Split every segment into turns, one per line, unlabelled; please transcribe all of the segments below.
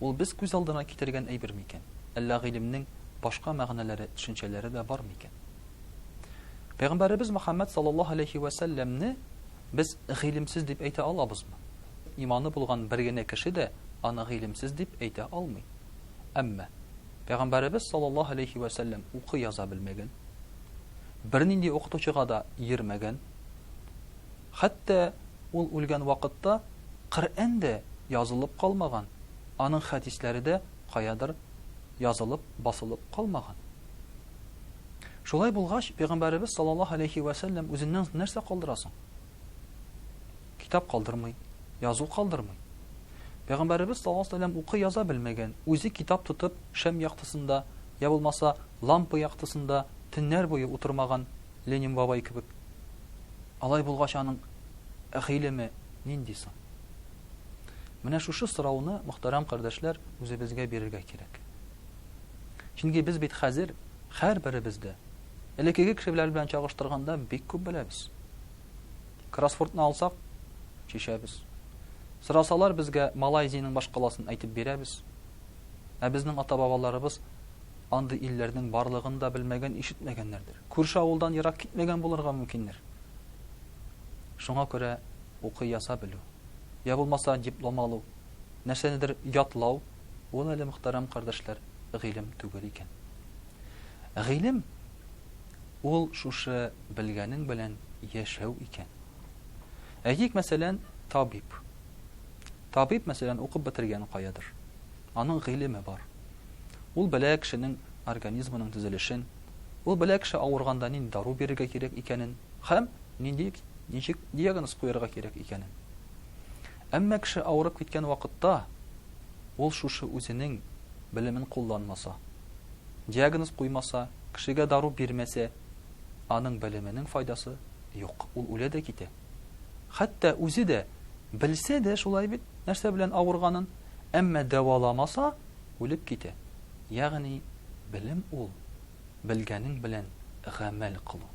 Ул без күз алдына китергән әйбер микән? Әллә гыйлемнең башка мәгънәләре, төшенчәләре дә бар микән? Пәйгамбәребез Мөхәммәд саллаллаһу алейһи вә сәлләмне без гыйлемсез дип әйтә алабызмы? Иманы булган бер генә кеше дә аны гыйлемсез дип әйтә алмый. Әмма Пәйгамбәребез саллаллаһу алейһи вә сәлләм укый-яза белмәгән, бернинди укытучыга да йөрмәгән, Хәтта ул үлгән вакытта Коръән дә язылып калмаган, аның хәдисләре дә каядыр язылып, басылып калмаган. Шулай булгач, Пәйгамбәребез саллаллаһу галәйһи вә сәлләм үзеннән соң нәрсә калдыра соң? Китап калдырмый, язу калдырмый. Пәйгамбәребез саллаллаһу галәйһи вә сәлләм укый-яза белмәгән, үзе китап тотып шәм яктысында, йә булмаса, лампа яктысында төннәр буе утырмаган, Ленин бабай кебек. Алай булгач, аның гыйлеме нинди соң? Менә шушы сорауны, мөхтәрәм кардәшләр, үзебезгә бирергә кирәк. Чөнки без бит хәзер һәрберебез дә элеккеге кешеләр белән чагыштырганда бик күп беләбез. Кроссвордны алсак, чишәбез. Сорасалар безгә Малайзиянең башкаласын әйтеп бирәбез. Ә безнең ата-бабаларыбыз Андый илләрнең барлыгын да белмәгән-ишетмәгәннәрдер. Күрше авылдан ерак китмәгән булырга мөмкиндер. Шуңа күрә укый яза белү, я булмаса диплом алу, нәрсәнедер ятлау, ул әле, мөхтәрәм кардәшләр, гыйлем түгел икән. Гыйлем, ул шушы белгәнең белән яшәү икән. Әйтик, мәсәлән, табиб. Табиб, мәсәлән, укып бетергән каядыр. Аның гыйлеме бар. Ул белә кешенең организмының төзелешен, ул белә кеше авырганда нинди дару бирергә кирәк икәнен һәм нинди, ничек диагноз куярга кирәк икәнен. Әмма кеше авырып киткән вакытта ул шушы үзенең белемен кулланмаса, диагноз куймаса, кешегә дару бирмәсә, аның белеменең файдасы юк, ул үлә дә китә. Хәтта үзе дә белсә дә шулай бит, нәрсә белән авырганын, әмма дәваламаса, үлеп китә. Ягъни белем ул, белгәнең белән гамәл кылу.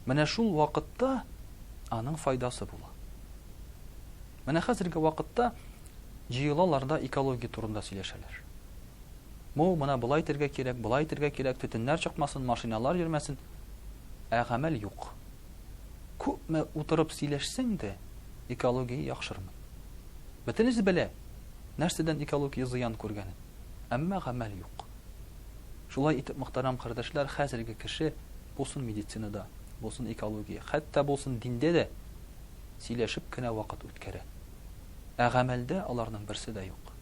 Менә шул вакытта аның файдасы була. Менә хәзерге вакытта җыелалар да экология турында сөйләшәләр. Бу моны болай итәргә кирәк, болай итәргә кирәк, төтеннәр чыкмасын, машиналар йөрмәсен. Ә гамәл юк. Күпме утырып сөйләшсәң дә, экология яхшырмый. Бөтенесе белә, нәрсәдән экология зыян күргәнен, әмма гамәл юк. Шулай итеп, мөхтәрәм кардәшләр, хәзерге кеше, булсын медицинада, булсын экология, хәтта булсын диндә дә, сөйләшеп кенә вакыт үткәрә. Ә гамәлдә аларның берсе дә юк.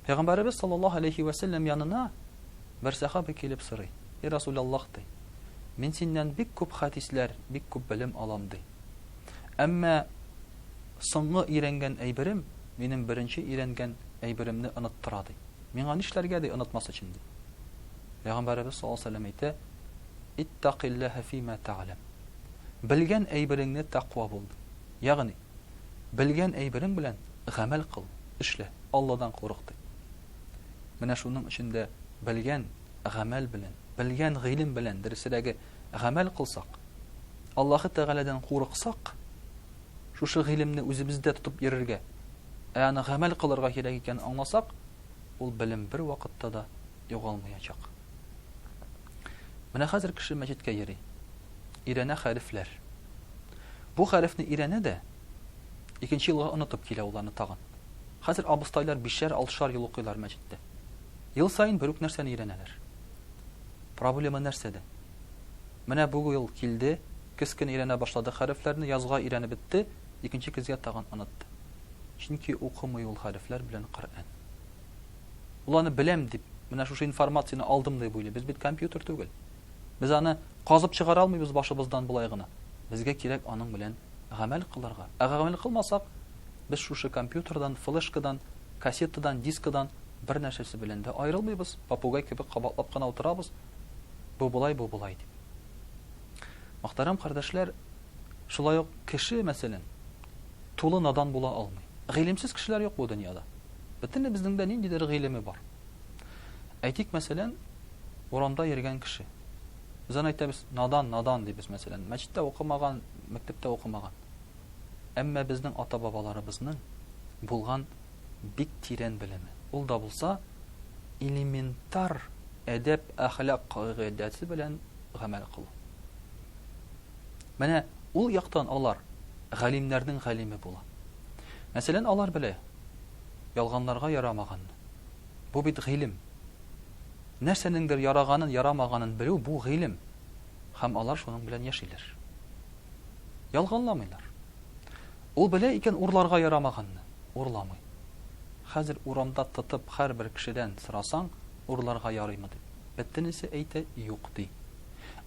Пәйгамбәребез саллаллаһу алейһи вә сәлләм янына бер сәхабә килеп сорый. И Расул Аллаһ, ди, мин синнән бик күп хәдисләр, бик күп белем алам, ди. Әмма соңгы өйрәнгән әйберем минем беренче өйрәнгән әйберемне оныттыра, ди. Миңа нишләргә, ди, онытмас өчен, ди. Пәйгамбәребез саллаллаһу алейһи ва сәлләм әйтә, Иттакилләһә фима тәгъләм. Белгән әйбереңне тәкъва бул, ди. Ягъни, белгән әйберең белән гамәл кыл, эшлә, Алладан курык, ди. Менә шуның өчен дә белгән, гамәл белән, белгән гыйлем белән, дөресрәге, гамәл кылсак, Аллаһы Тәгаләдән курыксак, шушы гыйлемне үзебездә тотып йөрергә, ә аны гамәл кылырга кирәк икәнен аңласак, ул белем бер вакытта да югалмаячак. Менә хәзер кеше мәчеткә йөри. Ирәнә хәрефләр. Бу хәрефне ирәнә дә икенче елга онытып килә уларны тагын. Хәзер абыстайлар бишәр, алтышар ел укыйлар мәчеттә. Ел саен бер үк нәрсәне өйрәнәләр. Проблема нәрсәдә? Менә бу ел килде, көз көне өйрәнә башлады хәрефләрне, язга өйрәнеп бетте, икенче көзгә тагын онытты. Чөнки укымый ул хәрефләр белән Коръән. Ул аны беләм дип, менә шушы информацияне алдым дип уйлый. Без бит компьютер түгел. Без аны казып чыгара алмыйбыз башыбыздан болай гына. Безгә кирәк аның белән гамәл кылырга. Ә гамәл кылмасак, без шушы компьютердан, флешкадан Кассетадан, дискадан бернәрсәсе белән дә аерылмыйбыз, попугай кебек кабатлап кына утырабыз, бу болай, бу болай дип. Мөхтәрәм кардәшләр, шулай ук кеше, мәсәлән, тулы надан була алмый. Гыйлемсез кешеләр юк бу дөньяда. Бөтенебезнең дә ниндидер гыйлеме бар. Әйтик, мәсәлән, урамда йөргән кеше. Без аны әйтәбез, надан, надан дибез, мәсәлән. Мәчеттә укымаган, мәктәптә укымаган. Әмма безнең ата-бабаларыбызның булган бик тирән белеме, ул да булса элементар әдәп-әхлак кагыйдәсе белән гамәл кылу. Менә ул яктан алар галимнәрнең галиме була. Мәсәлән, алар белә, ялганларга ярамаганны. Бу бит гыйлем. Нәрсәнеңдер яраганын, ярамаганын белү бу гыйлем. Һәм алар шуның белән яшиләр. Ялганламыйлар. Ул белә икән урларга ярамаганны, урламый. Хәзер урамда тотып һәрбер кешедән сорасаң, урларга ярыймы дип, бөтенесе әйтә, юк ди.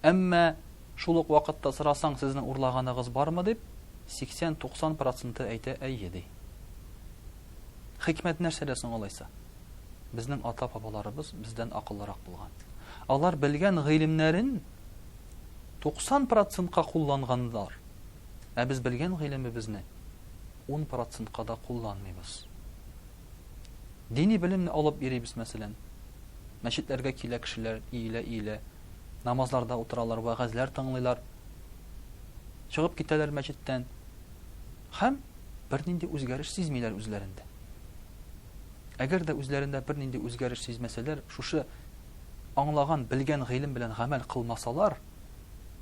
Әмма шул ук вакытта сорасаң, сезнең урлаганыгыз бармы дип, 80-90 проценты әйтә, әйе ди. Хикмәт нәрсәдә соң алайса? Безнең ата-бабаларыбыз бездән акыллырак булган. Алар белгән гыйлемнәрен 90 процентка кулланганнар, ә без белгән гыйлемебезне ун процентка да кулланмыйбыз. Дини белемне алып йөрибез, мәсәлән. Мәчетләргә килә кешеләр, иелә-иелә, намазларда утыралар, вәгазьләр тыңлыйлар, чыгып китәләр мәчеттән һәм бернинди үзгәреш сизмиләр үзләрендә. Әгәр дә үзләрендә бернинди үзгәреш сизмәсәләр, шушы аңлаган, белгән гыйлем белән гамәл кылмасалар,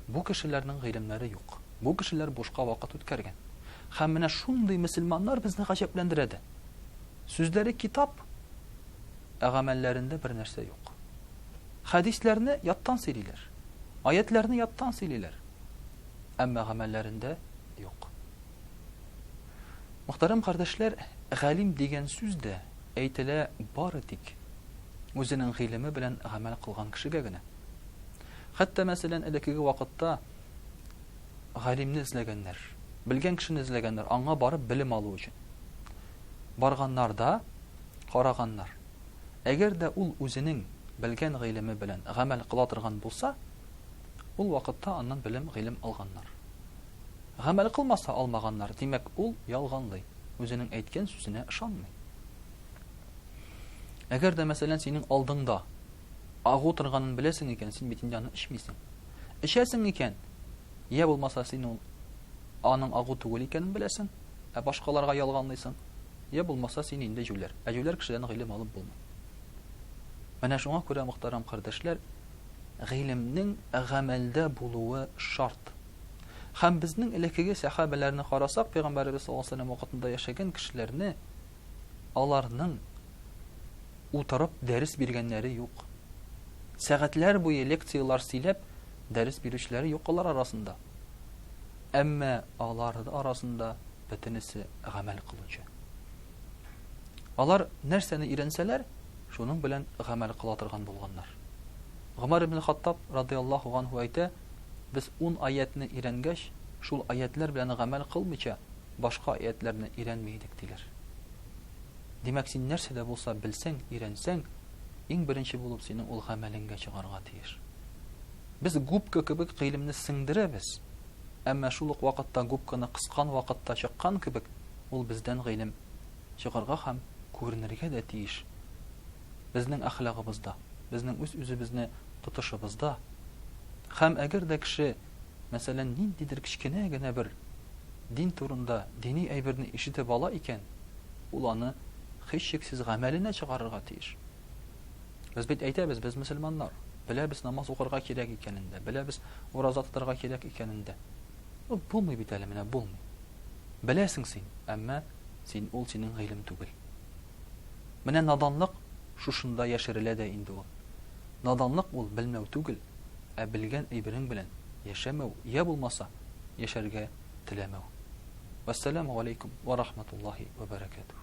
бу кешеләрнең гыйлемнәре юк. Бу кешеләр бушка вакыт үткәргән. Һәм менә шундый мөселманнар безне гаҗәпләндерә дә. Сүзләре китап, ә гамәлләрендә бер нәрсә юк. Хәдисләрне яттан сөйлиләр, аятьләрне яттан сөйлиләр, әмма гамәлләрендә юк. Мөхтәрәм кардәшләр, галим дигән сүз дә, әйтелә, бары тик үзенең гыйлеме белән гамәл кылган кешегә генә. Хәтта, мәсәлән, элеккеге вакытта галимне эзләгәннәр, белгән кешене эзләгәннәр, аңа барып белем алу өчен. Барганнар да, караганнар. Әгәр дә ул үзенең белгән гыйлеме белән гамәл кыла торган булса, ул вакытта аннан белем, гыйлем алганнар. Гамәл кылмаса алмаганнар, димәк, ул ялганлый, үзенең әйткән сүзенә ышанмый. Әгәр дә, мәсәлән, синең алдыңда агу торганын беләсең икән, син бит инде аны эчмисең. Эчәсең икән, йә булмаса син ул аның агу түгел икәнен беләсең, ә башкаларга ялганлыйсың, йә булмаса син инде җүләр, ә җүләр кешедән гыйлем алып булмый. Менә шуңа күрә, мөхтәрәм кардәшләр, гыйлемнең гамәлдә булуы шарт. Һәм безнең элеккеге сәхабәләрне карасак, пәйгамбәребез саллаллаһу алейһи вакытында яшәгән кешеләрне аларның утырып дәрес биргәннәре юк. Сәгатьләр буе лекцияләр сөйләп дәрес бирүчеләре юк алар арасында. Әмма алар арасында бөтенесе гамәл кылучы. Алар нәрсәне өйрәнсәләр, шуның белән гамәл кыла торган булганнар. Гомар ибн Хаттаб радиаллаһу анһу әйтә, Без ун аятьне өйрәнгәч, шул аятьләр белән гамәл кылмыйча, башка аятьләрне өйрәнми идек, диләр. Димәк, син нәрсә дә булса белсәң, өйрәнсәң, иң беренче булып синең ул гамәлеңгә чыгарга тиеш. Без губка кебек гыйлемне сеңдерәбез, әмма шул ук вакытта губканы кыскан вакытта чыккан кебек, ул бездән гыйлем чыгарга һәм күренергә дә тиеш. безнең әхлагыбызда, безнең үз-үзебезне тотышыбызда. Һәм әгәр дә кеше, мәсәлән, ниндидер кечкенә генә бер дин турында дини әйберне ишетеп ала икән, ул аны һичшиксез гамәленә чыгарырга тиеш. Без бит әйтәбез, без мөселманнар, беләбез намаз укырга кирәк икәнен дә, беләбез ураза тотарга кирәк икәнен дә. Ну, булмый бит әле, менә булмый. Беләсең син, әмма син ул синең гыйлем түгел. Менә наданлык шушында яшерелә дә инде ул. Наданлык ул белмәү түгел, ә белгән әйберең белән яшәмәү йә булмаса яшәргә теләмәү. Вәссәламү галәйкүм вә рахматуллаһи вә бәрәкәтүһү.